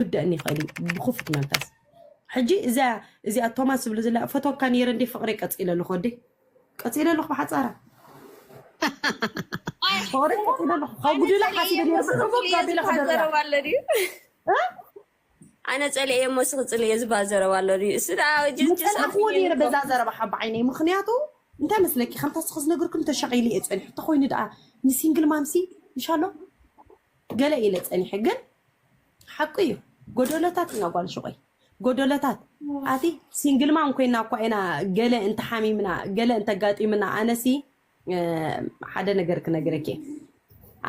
ክውደእኒ ይክእል እዩ ብክፉት መንፈስ ሕጂ እዛ እዚኣ ቶማስ ዝብሉ ዝላ ፈትወካ ነይረ እንዴ ፍቅረይ ቀፂለ ኣለኹ ወዲ ቀፂለ ኣለኹ ብሓፃራ ፍቅረይ ቀፂለ ኣለኹ ካብ ጉድላ ሓሲበ ነይረ ብዕቡብ ጋቢላ ከደርያ ኣነ ፀሊኤ እሞ ስክ ፅልኤ ዝበሃል ዘረባ ኣሎ ድዩ እሱ ደኣ ጅስ ጅስ መፀናዕክዎ ነይረ በዛ ዘረባ ሓባ ዓይነይ ምክንያቱ እንታይ መስለኪ ከምታ ስክ ዝነገርኩም ተሸቂሉ እየ ፀኒሑ ተኮይኑ ደኣ ንሲንግል ማምሲ ምሻሎ ገለ ኢለ ፀኒሐ ግን ሓቁ እዩ ጎደሎታት ኢና ጓል ሹቀይ ጎደሎታት ኣቲ ሲንግል ማም ኮይና እኳ ኢና ገለ እንተሓሚምና ገለ እንተጋጢምና ኣነሲ ሓደ ነገር ክነግረኪ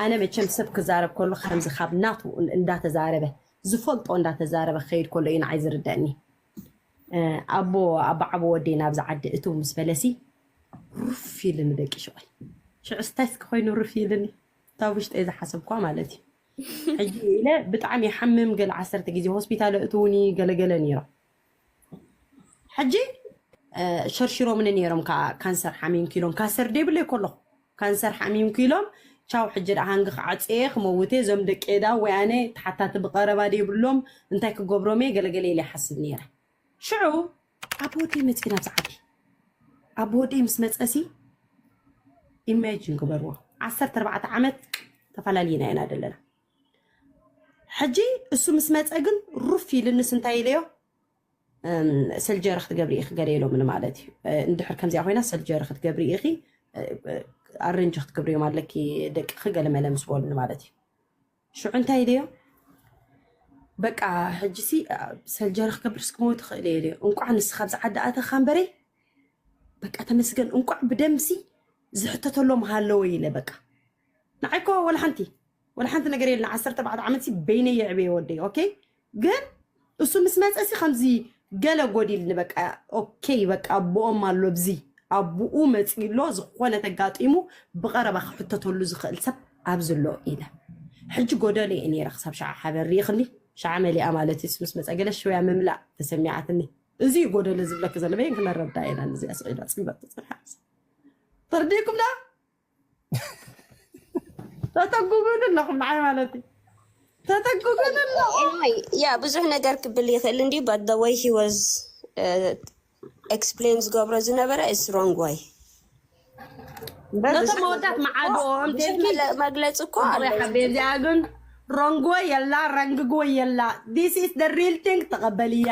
ኣነ መቸም ሰብ ክዛረብ ከሉ ከምዚ ካብ ናቱ እንዳተዛረበ ዝፈልጦ እንዳተዛረበ ክኸይድ ከሎ እዩ ንዓይ ዝርደኒ ኣቦ ኣባዓቦ ወዲ ናብዚ ዓዲ እቱ ምስ በለሲ ሩፍ ኢልኒ ደቂ ሸቆይ ሽዑ ስታይስ ክኮይኑ ሩፍ ኢልኒ እታ ውሽጠይ ዝሓሰብኳ ማለት እዩ ሕጂ ኢለ ብጣዕሚ ይሓምም ገለ ዓሰርተ ግዜ ሆስፒታል ኣእትዉኒ ገለገለ ነይሮም ሕጂ ሸርሽሮምኒ ነይሮም ከዓ ካንሰር ሓሚምኪ ኢሎም ካንሰር ደይብለይ ከለኹ ካንሰር ሓሚምኪ ኢሎም ቻው ሕጂ ደኣ ሃንጊ ክዓፅየ ክመውት እየ እዞም ደቂ ዳ ወይ ኣነ ተሓታቲ ብቀረባ ደይብሎም እንታይ ክገብሮም እየ ገለገለ ኢለ ይሓስብ ነይረ ሽዑ ኣቦ ወደይ መጺና ኣብዚ ዓዲ ኣቦ ወደይ ምስ መጸሲ ኢማጂን ግበርዎ ዓሰርተ ኣርባዕተ ዓመት ተፈላሊና ኢና ዘለና ሕጂ እሱ ምስ መጸ ግን ሩፍ ኢልንስ እንታይ ኢለዮ ሰልጀሪ ክትገብሪ ኢኺ ገለ ኢሎምኒ ማለት እዩ እንድሕር ከምዚኣ ኮይና ሰልጀሪ ክትገብሪ ኢኺ ኣረንጂ ክትገብርዮም ኣለኪ ደቅኺ ገለ መለ ምስ በሉኒ ማለት እዩ ሽዑ እንታይ ኢለዮ በቃ ሕጂሲ ሰልጀሪ ክገብርስ ክመው ትኽእል እየ ኢለዮ እንቋዕ ንስኻ ኣብዚ ዓዲ ኣተኻ እምበረይ በቃ ተመስገን እንቋዕ ብደምሲ ዝሕተተሎም ሃለወ ኢለ በቃ ንዓይ እኮ ወላ ሓንቲ ወላ ሓንቲ ነገር የለን ዓሰርተ ኣርባዕተ ዓመትሲ በይነይ የዕበየ ወደይ ኦኬ ግን እሱ ምስ መፀ ሲ ከምዚ ገለ ጎዲልኒ በቃ ኦኬ በቃ ኣቦኦም ኣሎ ኣብዚ ኣቡኡ መፅኡ ኣሎ ዝኾነ ተጋጢሙ ብቐረባ ክሕተተሉ ዝኽእል ሰብ ኣብዚ ኣሎ ኢለ ሕጂ ጎደለ እየ ነይረ ክሳብ ሸዓ ሓበን ርኢኽኒ ሸዓ መሊኣ ማለት እዩ ምስ መፀ ገለ ሽውያ ምምላእ ተሰሚዓትኒ እዚ እዩ ጎደለ ዝብለክ ዘሎ በየን ክነረዳ ኢና እዚኣ ስዒዳ ፅልበት ትፅንሓ ተርዲእኩም ዳ ተጠጉጉን ኣለኹም ንዓይ ማለት እዩ ተጠጉጉን ኣለኹም ኤኒዌይ ያ ብዙሕ ነገር ክብል ይኽእል እንዲ በት ዘ ወይ ሂ ወዝ ኤክስፕሌን ዝገብሮ ዝነበረ ኢስ ሮንግ ወይ እምበር ነቶም ብዙሕ መወዳት መዓዶ ብዙሕ ኣምቴልኪ መለ- መግለፂ እኮ ጽቡቅ ኣሎ ያሓቤ እዚኣ ግን ሮንግወ የላ ረንግግወ የላ ዲስ ኢስ ደ ሪል ቲንግ ተቐበልያ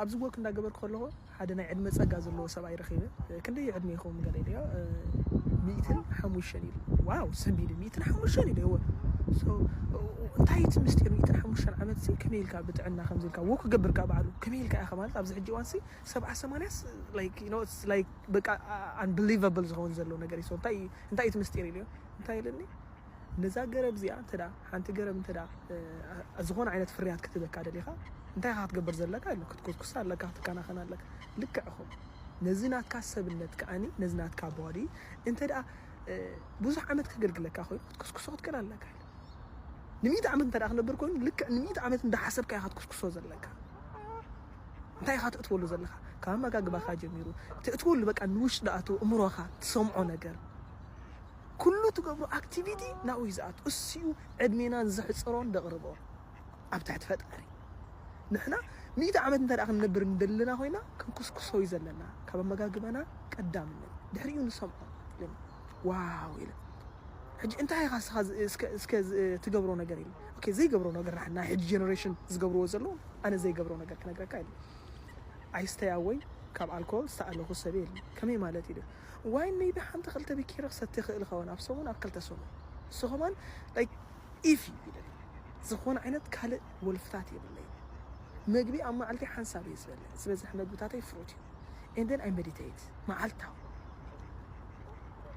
ኣብዚ ዎክ እንዳገበርኩ ከለኩ ሓደ ናይ ዕድመ ጸጋ ዘለዎ ሰብኣይ ረኪበ ክንደይ እዩ ዕድሜኩም ገለ ኢለዮ ሚእትን ሓሙሽተን ኢሉ ዋው ሰንቢደ ሚእትን ሓሙሽተን ኢለዮ so እንታይ እዩ እቲ ምስጢር ሚእትን ሓሙሽተን ዓመት ሲ ከመይ ኢልካ ብጥዕና ከምዚ ኢልካ ዎክ ክገብር ከኣ በዓሉ ከመይ ኢልካ ኢኻ ማለት ኣብዚ ሕጂ እዋን ሲ ሰብዓ ሰማንያስ like you know it's like በቃ unbelievable ዝኸውን ዘሎ ነገር እዩ so እንታይ እንታይ እዩ እቲ ምስጢር ኢለዮ እንታይ ኢሉኒ ነዛ ገረብ እዚኣ እንተ ሓንቲ ገረብ እንተ ዝኾነ ዓይነት ፍርያት ክትበካ ደሊኻ እንታይ ኢኻ ክትገብር ዘለካ ኢሉ ክትኩስኩስ ኣለካ ክትከናኸን ኣለካ ልክዕ እኹም ነዚ ናትካ ሰብነት ከዓኒ ነዚ ናትካ ቦዲ እንተ ደኣ ብዙሕ ዓመት ከገልግለካ ኮይኑ ክትኩስኩሶ ክትክእል ኣለካ ንሚእቲ ዓመት እንተ ክነብር ኮይኑ ልክዕ ንሚእቲ ዓመት እንዳሓሰብካ ኢኻ ክትኩስኩሶ ዘለካ እንታይ ኢኻ ትእትወሉ ዘለካ ካብ ኣመጋግባኻ ጀሚሩ ትእትወሉ በቃ ንውሽጢ ደኣቱ እምሮኻ ትሰምዖ ነገር ኩሉ ትገብሮ ኣክቲቪቲ ናብኡ እዩ ዝኣቱ እሱዩ ዕድሜናን ዘሕፅሮን ዘቕርቦ ኣብ ትሕቲ ፈጣሪ ንሕና ሚእቲ ዓመት እንተ ክንነብር እንደለና ኮይና ክንኩስኩሶ እዩ ዘለና ካብ ኣመጋግባና ቀዳምነት ድሕሪኡ ንሰምዖ ኢሎም ዋው ኢሎም ሕጂ እንታይ ኢኻ ስኻ እስከ ትገብሮ ነገር ኢሉ ኦኬ ዘይገብሮ ነገር ናይ ሕጂ ጀነሬሽን ዝገብርዎ ዘለዉ ኣነ ዘይገብሮ ነገር ክነግረካ ኢሉ ኣይስተይ ኣወይ ካብ ኣልኮል ዝተኣለኹ ሰብ የለ ከመይ ማለት ኢሉ ዋይን መይቢ ሓንቲ ክልተ ቢኬሪ ክሰቲ ይኽእል ይኸውን ኣብ ሰሙን ኣብ ክልተ ሰሙን እሱ ከማን ላይክ ኢፊ ይብል ዝኾነ ዓይነት ካልእ ወልፍታት የብለይ መግቢ ኣብ መዓልቲ ሓንሳብ እየ ዝበልዕ ዝበዝሕ መግብታተይ ፍሩት እዩ ኤንደን ኣይ ሜዲቴት መዓልታዊ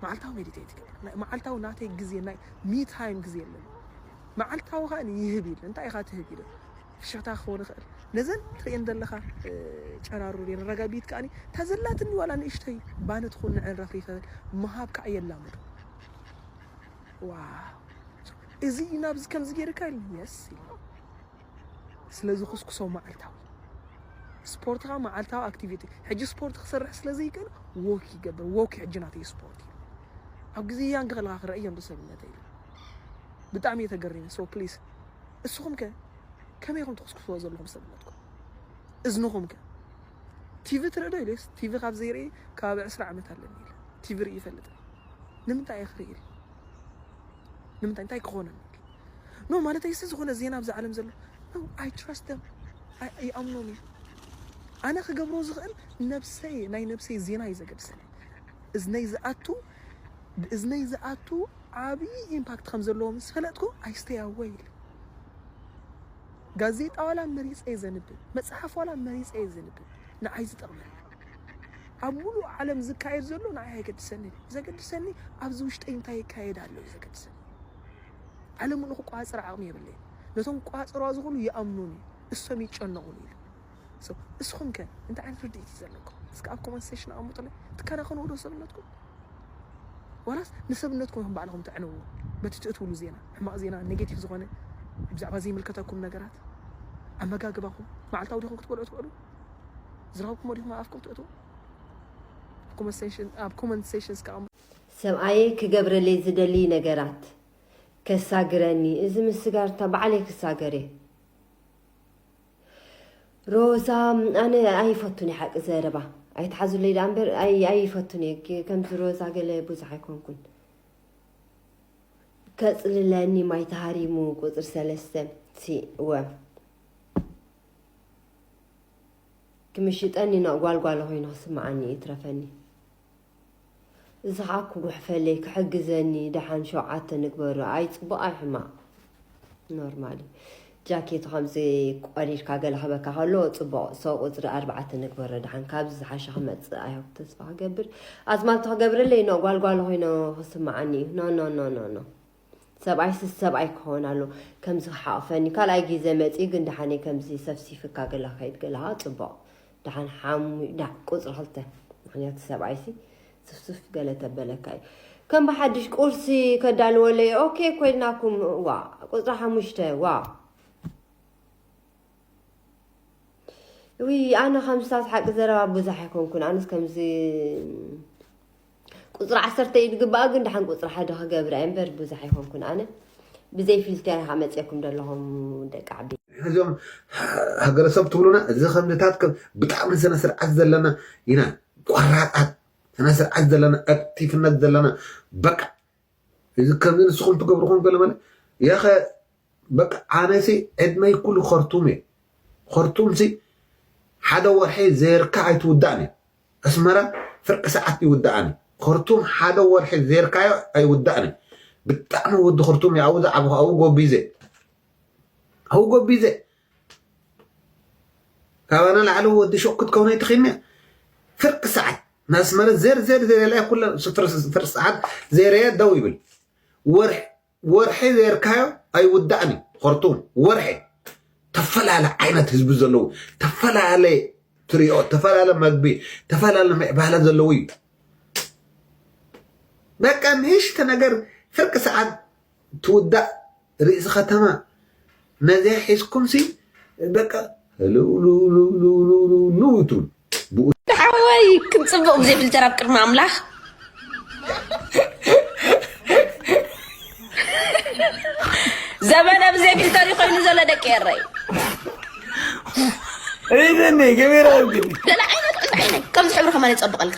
መዓልታዊ ሜዲቴት ይገብር ናይ- መዓልታዊ ናተይ ግዜ ናይ ሚ ታይም ግዜ ኣለኒ መዓልታዊ ከኣ ይህብ ኢለ እንታይ ኢኻ ትህብ ኢለ ፍሽኽታ ክኸውን ይኽእል። ነዘን ትርእየን ዘለኻ ጨራሩር እየን። ረጋቢት ከኣኒ እታ ዘላትኒ ዋላ ንእሽቶይ ባኒ ትኹን ንዐን ረፍሪፈ ምሃብ ከዓ የላምዱ። ዋው እዚ እዩ ናብዚ ከምዚ ገይርካ ኢሉ የስ ኢሉ ስለ ዝኹስኩሶ መዓልታዊ ስፖርት ከዓ መዓልታዊ ኣክቲቪቲ ሕጂ ስፖርት ክሰርሕ ስለ ዘይክእል ዎክ ይገብር ዎክ ሕጂ ናተይ ስፖርት እዩ ኣብ ግዜ ያንግ ከለካ ክረእዮም ብሰብነተይ ብጣዕሚ እየ ተገሪመ ሶ ፕሊስ እስኹም ከ ከመይ ኢኹም ትኹስኩስዎ ዘለኹም ሰብነትኩም እዝንኹም ከ ቲቪ ትርኢ ዶ ኢለስ ቲቪ ካብ ዘይርኢ ከባቢ ዕስራ ዓመት ኣለኒ ኢለ ቲቪ ርኢ ይፈልጥ ንምንታይ እየ ክርኢ ኢለ ንምንታይ እንታይ ክኾነኒ ኖ ማለት ይሲ ዝኾነ ዜና ኣብዚ ዓለም ዘሎ ኖ ኣይ ትራስት ደም ይኣምኖም እዩ ኣነ ክገብሮ ዝኽእል ነብሰይ ናይ ነብሰይ ዜና እዩ ዘገድሰኒ እዝነይ ዝኣቱ ብእዝነይ ዝኣቱ ዓብይ ኢምፓክት ከም ዘለዎ ምስ ፈለጥኩ ኣይ ስተይ ኣወይ ኢለ። ጋዜጣ ዋላ መሪፀ እየ ዘንብብ፣ መፅሓፍ ዋላ መሪፀ እየ ዘንብብ፣ ንዓይ ዝጠቕመኒ ኣብ ሙሉእ ዓለም ዝካየድ ዘሎ ንዓይ ኣይገድሰኒ ዘገድሰኒ ኣብዚ ውሽጠይ እንታይ ይካየድ ኣሎ እዩ ዘገድሰኒ ዓለሙ ንክቋፅር ዓቕሚ የብለይ ነቶም ቋፅሯ ዝኽእሉ ይኣምኑን እዩ እሶም ይጨነቑን ኢሉ So እስኹም ከ እንታይ ዓይነት ርድኢት እዩ ዘለኩም? እስከ ኣብ ኮመንት ሴሽን ኣቐምጡለይ። ትከናኸንዎ ዶ ሰብነትኩም? ዋላስ ንሰብነትኩም ኢኹም ባዕልኹም ተዕንውዎ? በቲ ትእትውሉ ዜና፣ ሕማቕ ዜና፣ ኔጌቲቭ ዝኾነ ብዛዕባ ዘይምልከተኩም ነገራት፣ ኣመጋግባኹም፣ መዓልታዊ ዲኹም ክትበልዑ ትውዕሉ? ዝረኸብኩሞ ዲኹም ኣብ ኣፍኩም ትእትዉ? ኣብ ኮመንት ሴሽን ኣብ ኮመንት ሴሽን እስከ ኣቐምጡ። ሰብኣየይ ክገብረለይ ዝደልይ ነገራት ከሳግረኒ እዚ ምስ ስጋርታ ባዕለይ ክሳገር እየ። ሮዛ ኣነ ኣይፈቱን እየ ሓቂ ዘረባ ኣይትሓዙለይ ደኣ እምበር ኣይፈቱን እየ ከምዚ ሮዛ ገለ ብዙሕ ኣይኮንኩን ከፅልለኒ ማይ ተሃሪሙ ቁፅሪ ሰለስተ ወ ክምሽጠኒ ጓልጓሎ ኮይኑ ክስምዓኒ ይትረፈኒ እዚ ኸኣ ክጉሕፈለይ ክሕግዘኒ ደሓን ሸውዓተ ንግበሮ ኣይ ጽቡቅ ኣይ ሕማቅ ኖርማል እዩ ጃኬቱ ከምዚ ቆሪርካ ገለ ክበካ ከሎ ጽቡቅ ሰው ቁጽሪ ኣርባዓተ ንግበሮ ደሓን ካብዚ ዝሓሸ ክመጽእ ኣይ ሆፕ ተስፋ ክገብር ኣዝማልቶ ክገብረለይ ኖ ጓልጓል ኮይኖ ክስምዓኒ እዩ ኖ ኖ ኖ ኖ ኖ ሰብኣይ ስስ ሰብኣይ ክኸውን ኣሎ ከምዚ ክሓቕፈኒ ካልኣይ ግዜ መጺኡ ግን ደሓነይ ከምዚ ሰፍሲፍካ ገለ ክኸይድ ገለኻ ጽቡቕ ደሓን ሓሙይ ዳ ቁጽሪ ክልተ ምክንያቱ ሰብኣይሲ ስፍስፍ ገለ ተበለካ እዩ ከም ብሓድሽ ቁርሲ ከዳልወለይ ኦኬ ኮይናኩም ዋ ቁጽሪ ሓሙሽተ ዋ ውይ ኣነ ከምስታት ሓቂ ዘረባ ብዙሕ ኣይኮንኩን ኣነስ ከምዚ ቁፅሪ ዓሰርተ እዩ ዝግባኣ ግን ድሓን ቁፅሪ ሓደ ክገብር እየ እምበር ብዙሕ ኣይኮንኩን ኣነ ብዘይ ፊልተር ኢኻ መፅእኩም ዘለኹም ደቂ ዓቢ ሕዞም ሃገረሰብ ትብሉና እዚ ከምዚታት ብጣዕሚ ስነ ስርዓት ዘለና ኢና ቆራጣት ስነ ስርዓት ዘለና ዕርቲፍነት ዘለና በቃ እዚ ከምዚ ንስኹም ትገብሩ ኮን ገለ መለ የኸ በቃ ኣነሲ ዕድመይ ኩሉ ኸርቱም እየ ኸርቱምሲ ሓደ ወርሒ ዘይርካ ኣይትውዳእን እየ ኣስመራ ፍርቂ ሰዓት ይውዳእኒ ኸርቱም ሓደ ወርሒ ዘይርካዮ ኣይውዳእን ብጣዕሚ ወዲ ኸርቱም እየ ኣብኡ ዝዓበኹ ኣብኡ ጎቢዘ ኣብኡ ጎቢዘ ካባና ላዕሊ ወዲ ሹቕ ክትከውን ኣይትኽእልኒ ፍርቂ ሰዓት ናስመረት ዘርዘር ዘርላ ኩለ ፍርቂ ሰዓት ዘርየ ደው ይብል ወርሒ ዘርካዮ ኣይውዳእን እዩ ኸርቱም ወርሒ ተፈላለ ዓይነት ህዝቢ ዘለዎ ተፈላለ ትሪኦ ተፈላለ መግቢ ተፈላለ ምዕባለ ዘለዎ እዩ በቃ ንእሽተ ነገር ፍርቂ ሰዓት ትውዳእ ርእሲ ከተማ ነዚኣ ሒዝኩምሲ በቃ ህልውልውልውልውልውልው ትብሉ ብኡ ሓወይ ክም ፅቡቕ ግዜ ብልተር ኣብ ቅድሚ ኣምላኽ ዘመነ ብዘይ ፊልተር እዩ ኮይኑ ዘሎ ደቂ ኤረይ እይደኒ ገቢራ ግን ደላ ዓይነት ቅንዲ ዓይነይ ከምዚ ሕብሪ ከማን ይፀብቐልካ